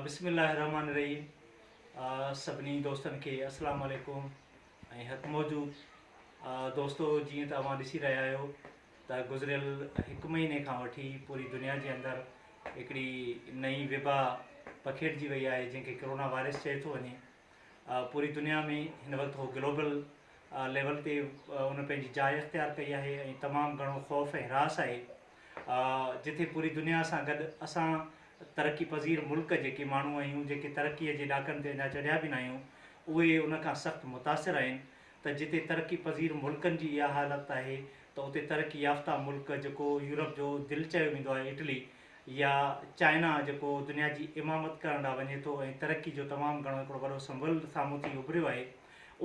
بسم الله الرحمٰن الرحيم سڀني دوستن کي اسلام عليڪم ۽ هت موجود دوستو جيئن ته اوهان ڏسي رهيا آهيو ته گذريل هڪ مهيني کان وٺي پوري دنيا جي اندر هڪڙي نئي وبا پکيڙجي وئي آهي جنهن کي ڪرونا وائرس چئي ٿو وڃي پوري دنيا ۾ هن وقت هو گلوبل ليول تي ان پنهنجي جاء اختيار ڪئي آهي ۽ تمام گهڻو خوف ۽ هراس آهي جتي پوري دنيا سان گڏ اسان ترقي پذير ملڪ جيڪي ماڻهو آهيون جيڪي ترقي جي ڏاڪن تي اڃا چڙهيا به ناهيون اهي ان کان سخت متاثر آهن ته جتي ترقي پذير ملڪن جي اها حالت آهي ته اتي ترقي يافته ملڪ جيڪو يورپ جو دل چيو ويندو آهي اٽلي يا چائنا جيڪو دنيا جي امامت ڪرڻ لا وڃي ٿو ۽ ترقي جو تمام گهڻو هڪڙو وڏو سمبل سامهون ٿي اڀريو آهي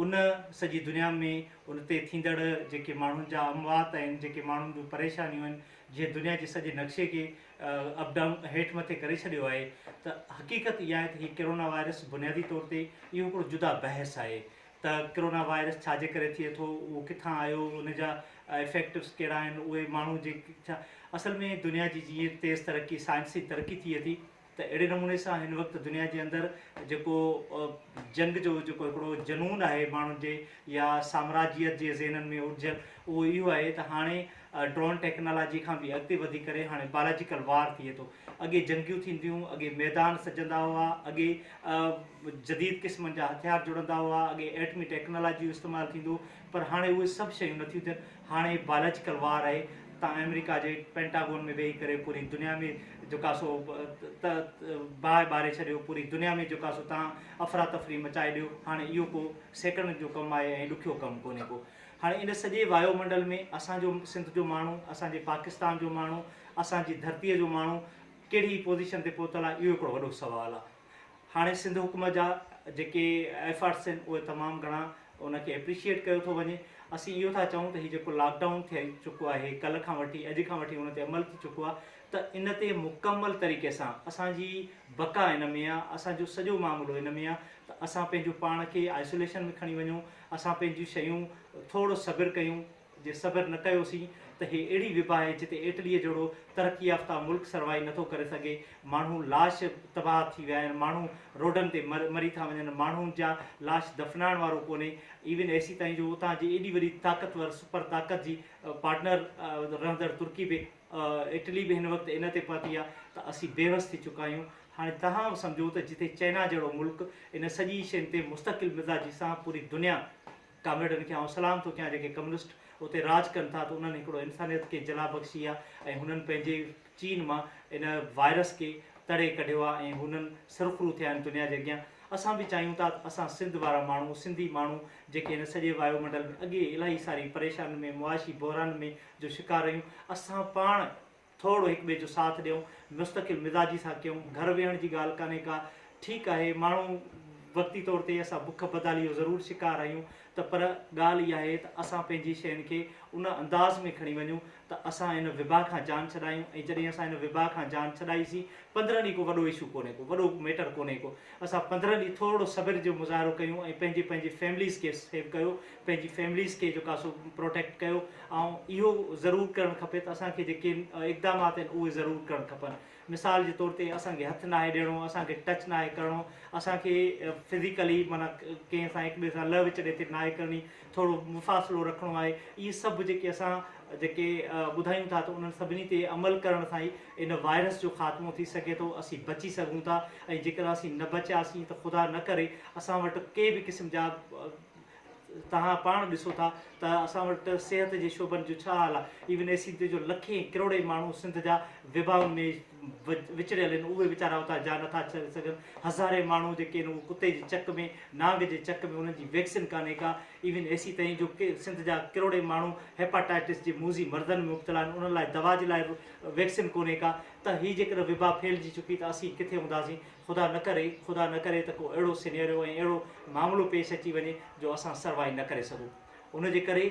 ان سڄي دنيا ۾ ان تي ٿيندڙ جيڪي ماڻهن جا اموات آهن جيڪي ماڻهن جون پريشانيون آهن جنهن دنيا جي سڄي نقشي کي اپ ڊائون هيٺ مٿي ڪري ڇڏيو آهي ته حقيقت اها آهي ته هي ڪرونا وائرس بنيادي طور تي اهو هڪڙو جدا بحث آهي ته ڪرونا وائرس ڇا جي ڪري ٿئي ٿو، اهو ڪٿان آيو، ان جا افيڪٽس ڪهڙا آهن، اهي ماڻهو جي ڇا، اصل ۾ دنيا جي جيئن تيز ترقي سائنسي ترقي ٿئي ٿي ته اهڙي نموني سان هن وقت دنيا جي اندر جيڪو جنگ جو جيڪو هڪڙو جنون آهي ماڻهن جي يا سامراجيت جي ذهنن ۾ اڙجيل اهو اهو آهي ته هاڻي ڊرون ٽيڪنالاجي کان به اڳتي وڌي ڪري هاڻي بالاجيڪل وار ٿئي ٿو اڳي جنگيون ٿينديون، اڳي ميدان سجندا هئا، اڳي جديد قسمن جا هٿيار جڙندا هئا، اڳي ايٽمي ٽيڪنالاجي جو استعمال ٿيندو پر هاڻي اهي سڀ شيون نٿيون ٿين، هاڻي بايولاجيڪل وار آهي، تان آمريڪا جي پينٽاگون ۾ ويهي ڪري پوري دنيا ۾ جيڪا سو باهه ٻاري ڇڏيو، پوري دنيا ۾ جيڪا سو تان افراتفري مچائي ڏيو، هاڻي اهو ڪو سيڪنڊن جو ڪم آهي ۽ ڏکيو ڪم ڪونهي ڪو. هاڻي ان سڄي وايو منڊل ۾ اسان جو سنڌ جو ماڻهو، اسان جي پاڪستان جو ماڻهو، اسان جي ڌرتيء جو ماڻهو ڪهڙي پوزيشن تي پهتل آهي اهو هڪڙو وڏو سوال آهي. هاڻي سنڌ حڪومت جا جيڪي ايفرٽس آهن اهي تمام گهڻا ان کي اپريشيئيٽ ڪيو ٿو وڃي. اسين اهو ٿا چئون ته هي جيڪو لاڪ ڊائون ٿئي چڪو آهي ڪلهه کان وٺي اڄ کان وٺي ان تي عمل ٿي چڪو آهي ته ان تي مڪمل طريقي سان اسان جي بقا ان ۾ آهي، اسان جو سڄو معاملو ان ۾ آهي ته اسان پنهنجو پاڻ کي آئسوليشن ۾ کڻي وڃون، اسان پنهنجون شيون ٿورڙو صبر ڪيون، جي صبر نه ڪيوسين ته هي اهڙي وبا آهي جتي اٽليء جهڙو ترقي يافته ملڪ سرواهي نٿو ڪري سگهي، ماڻهو لاش تباهه ٿي ويا آهن، ماڻهو روڊن تي مري ٿا وڃن، ماڻهن جا لاش دفنائڻ وارو ڪونهي، ايون ايسي تائين جو اتان جي ايڏي وڏي طاقتور سپر طاقت جي پارٽنر رهندڙ ترڪي به. اٽلي به هن وقت ان تي پهتي آهي ته اسين بيوس ٿي چڪا آهيون. هاڻي توهان سمجهو ته جتي چئنا جهڙو ملڪ ان سڄي شين تي مستقل مزاجي سان پوري دنيا ڪامريڊن کي آئون سلام ٿو ڪيان جيڪي ڪميونسٽ اتي راڄ ڪن ٿا ته انهن هڪڙو انسانيت کي جلا بخشي آهي ۽ هنن پنهنجي چين مان ان وائرس کي تڙي ڪڍيو آهي ۽ هنن سرخرو ٿيا آهن دنيا جي اڳيان اسان به چاهيون ٿا ته اسان سنڌ وارا ماڻهو سنڌي ماڻهو جيڪي هن سڄي وايو منڊل ۾ اڳي الائي ساري پريشانين ۾ معاشي بحران ۾ جو شڪار رهيون، اسان پاڻ ٿورڙو هڪ ٻئي جو ساٿ ڏيون، مستقل مزاجي سان ڪيون، گهر ويهڻ جي ڳالهه ڪانهي ڪا، ٺيڪ آهي ماڻهو وقتي طور تي اسان بک بدالي جو ضرور شڪار رهيون ته پر ڳالهه اها آهي ته اسان پنهنجي شين کي ان انداز ۾ کڻي وڃون ته اسان ان وبا کان جان ڇڏايون ۽ جڏهن اسان ان وبا کان جان ڇڏائي سين پندرهن ڏينهن ڪو وڏو اشو ڪونهي ڪو وڏو ميٽر ڪونهي ڪو اسان پندرهن ڏينهن ٿورڙو صبر جو مظاهرو ڪيون ۽ پنهنجي پنهنجي فيمليز کي سيو ڪيو پنهنجي فيمليز کي جيڪا سو پروٽيڪٽ ڪيو ۽ اهو ضرور ڪرڻ کپي ته اسان کي جيڪي اقدامات آهن اهي ضرور ڪرڻ کپن مثال جي طور تي اسان کي هٿ ناهي ڏيڻو اسان کي ٽچ ناهي ڪرڻو اسان کي فزيڪلي معنيٰ ڪنهن سان هڪ ٻئي سان لهه وچڙي تي ناهي ڪرڻي ٿورو مفاصلو رکڻو آهي اهي سڀ جيڪي اسان جيڪي ٻڌايون ٿا ته انهن سڀني تي عمل ڪرڻ سان ئي ان وائرس جو خاتمو ٿي سگهي ٿو اسين بچي سگهون ٿا ۽ جيڪڏهن اسين نه بچياسين ته خدا نه ڪري اسان وٽ ڪي به قسم جا توهان پاڻ ڏسو ٿا ته اسان وٽ صحت جي شعبن جو ڇا حال آهي، ايون اي سي تي جو لکين ڪروڙين ماڻهو سنڌ جا وبائن ۾ وچڙيل آهن اهي ويچارا اتان جا نٿا ڇڏي سگهن، هزارين ماڻهو جيڪي آهن اهي ڪتي جي چڪ ۾ نانگ جي چڪ ۾ انهن جي ويڪسين ڪانهي ڪا ايون اي سي تائين جو سنڌ جا ڪروڙين ماڻهو هيپاٽائيٽس جي موذي مرضن ۾ مبتلا آهن انهن لاء دوا جي لاء به ويڪسين ڪونهي ڪا ته هي جيڪڏهن وبا ڦهلجي چڪي ته اسين ڪٿي هونداسين خدا نه ڪري خدا نه ڪري ته ڪو اهڙو سينيريو ۽ اهڙو معاملو پيش اچي وڃي جو اسان سروائي نه ڪري سگهون ان جي ڪري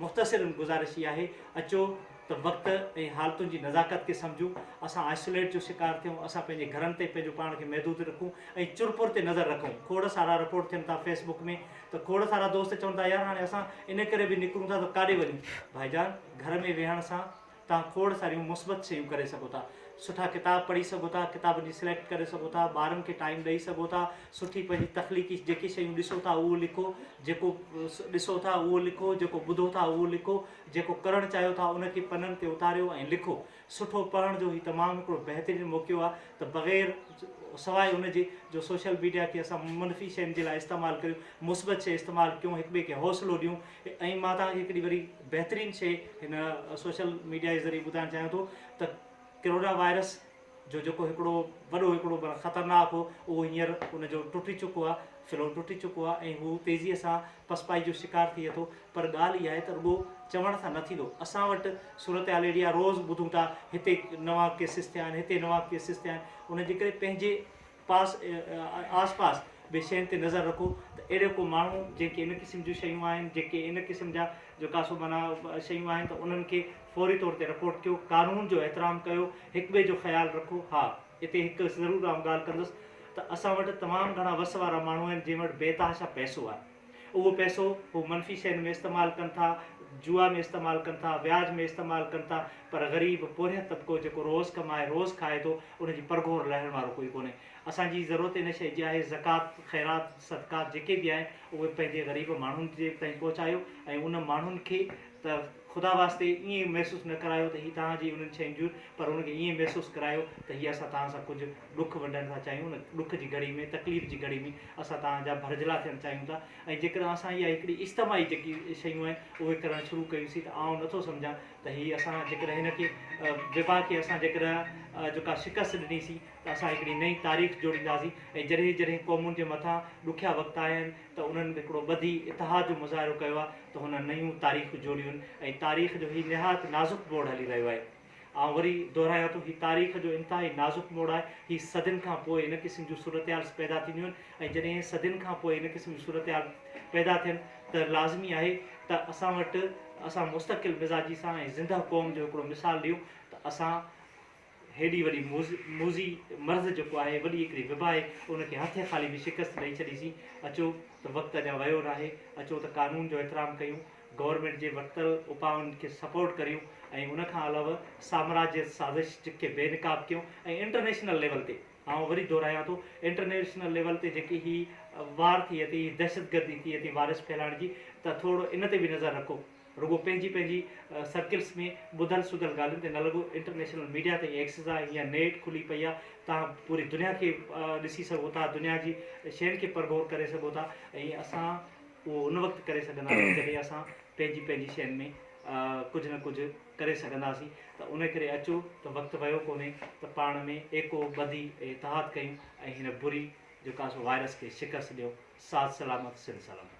مختصرن گذارش هي آهي اچو ته وقت ۽ حالتن جي نزاڪت کي سمجهون اسان آئسوليٽ جو شڪار ٿيون اسان پنهنجي گهرن تي پنهنجو پاڻ کي محدود رکون ۽ چرپر تي نظر رکون کوڙ سارا رپورٽ ٿين ٿا فيس بڪ ۾ ته کوڙ سارا دوست چون ٿا يار هاڻي اسان ان ڪري به نڪرون ٿا ته ڪاڏي وڃون ڀائيجان گهر ۾ ويهڻ سان توهان کوڙ ساريون مثبت شيون ڪري سگهو ٿا. سٺا ڪتاب پڙهي سگهو ٿا، ڪتابن جي سليڪٽ ڪري سگهو ٿا، ٻارن کي ٽائيم ڏئي سگهو ٿا، سٺي پنهنجي تخليقي جيڪي شيون ڏسو ٿا اهو لکو، جيڪو ڏسو ٿا اهو لکو، جيڪو ٻڌو ٿا اهو لکو، جيڪو ڪرڻ چاهيو ٿا ان کي پنن تي اتاريو ۽ لکو. سٺو پڙهڻ جو هي تمام هڪڙو بهترين موقعو آهي ته بغير سواء ان جي جو سوشل ميڊيا کي اسان منفي شين جي لاء استعمال ڪريون، مثبت شي استعمال ڪيون، هڪٻئي کي حوصلو ڏيون. ائين مان توهان کي هڪڙي وري بهترين شي هن سوشل ميڊيا جي ذريعي ٻڌائڻ چاهيان ٿو ته ڪرونا وائرس جو جيڪو هڪڙو وڏو هڪڙو معنيٰ خطرناڪ هو اهو هينئر ان جو ٽٽي چڪو آهي ڦلو ٽٽي چڪو آهي ۽ هو تيزيء سان پسپائي جو شڪار ٿئي ٿو پر ڳالهه اها آهي ته رڳو چوڻ سان نه ٿيندو اسان وٽ صورتحال اهڙي آهي روز ٻڌون ٿا هتي نوان ڪيسز ٿيا آهن هتي نوان ڪيسز ٿيا آهن ان جي ڪري پنهنجي پاس ۽ آس پاس به شين تي نظر رکو ته اهڙي ڪو ماڻهو جنهن کي ان قسم جون شيون آهن جيڪي ان قسم جا جو ڪا سو معنيٰ شيون آهن ته انهن کي فوري طور تي رپورٽ ڪيو قانون جو احترام ڪيو هڪ ٻئي جو خيال رکو ها اتي هڪ ضرور آئون ڳالهه ڪندس ته اسان وٽ تمام گهڻا وس وارا ماڻهو آهن جن وٽ بي تحاشا پئسو آهي اهو پئسو هو منفي شين ۾ استعمال ڪن ٿا، جوا ۾ استعمال ڪن ٿا، وياج ۾ استعمال ڪن ٿا، پر غريب پورهيت طبقو جيڪو روز ڪمائي روز کائي ٿو، ان جي پرگهور لهڻ وارو ڪوئي ڪونهي. اسان جي ضرورت ان شيء جي آهي زڪوات، خيرات، صدقات جيڪي به آهن اهي پنهنجي غريب ماڻهن جي تائين پهچايو ۽ ان ماڻهن کي ته. خدا واسطي ائين محسوس نه ڪرايو ته هي توهان جي انهن شين جون پر هن کي ائين محسوس ڪرايو ته هي اسان توهان سان ڪجهه ڏک ونڊڻ ٿا چاهيون ان ڏک جي گهڙي ۾ تڪليف جي گهڙي ۾ اسان توهان جا ڀرجهلا ٿيڻ چاهيون ٿا ۽ جيڪڏهن اسان اها هڪڙي اجتماعي جيڪي شيون آهن اهي ڪرڻ شروع ڪيون سين ته آئون نه ٿو سمجهان ته هي اسان جيڪڏهن هن کي وبا کي اسان جيڪڏهن جو ڪا شڪست ڏني سين ته اسان هڪڙي نئين تاريخ جوڙينداسين ۽ جڏهن جڏهن قومن جي مٿان ڏکيا وقت آيا آهن ته انهن هڪڙو ٻڌي اتحاد جو مظاهرو ڪيو آهي ته هن نيون تاريخون جوڙيون ۽ تاريخ جو هي نهايت نازڪ موڙ هلي رهيو آهي. آئون وري دهرايان ٿو هي تاريخ جو انتهائي نازڪ موڙ آهي. هي صدين کان پوء ان قسم جون صورتحال پيدا ٿينديون آهن ۽ جڏهن صدين کان پوء ان قسم جون صورتحال پيدا ٿين ته لازمي آهي ته اسان وٽ اسان مستقل مزاجي سان ۽ زنده قوم جو هڪڙو مثال ڏيون ته اسان هيڏي وڏي موذي مرض جيڪو آهي وڏي هڪڙي وبا آهي ان کي هٿين خالي به شڪست ڏئي ڇڏيسين اچو ته وقت اڃا ويو ناهي اچو ته قانون جو احترام ڪيون گورنمينٽ جي ورتل اپائن کي سپورٽ ڪريون ۽ ان کان علاوه سامراجيت سازش کي بي نقاب ڪيون ۽ انٽرنيشنل ليول تي آئون وري دهرايان ٿو انٽرنيشنل ليول تي جيڪي هي وار ٿئي ٿي هي دهشتگردي ٿئي ٿي وائرس ڦهلائڻ جي ته ٿورڙو ان تي به نظر رکو رڳو پنهنجي پنهنجي سرڪلس ۾ ٻڌل سڌل ڳالهين تي نه لڳو انٽرنيشنل ميڊيا تائين ايڪسيس آهي هينئر نيٽ کلي پئي آهي تهان پوري دنيا کي ڏسي سگهو ٿا دنيا جي شين کي پرڀور ڪري سگهو ٿا ۽ اسان اهو ان وقت ڪري سگهنداسين جڏهن اسان پنهنجي پنهنجي شين ۾ ڪجهه نه ڪجهه ڪري سگهنداسين ته ان ڪري اچو ته وقت ويو ڪونهي ته پاڻ ۾ ايڪو ٻڌي اتحاد ڪيون ۽ هن بري جيڪا سو وائرس کي شڪست ڏيون ساٿ سلامت سنڌ سلامت.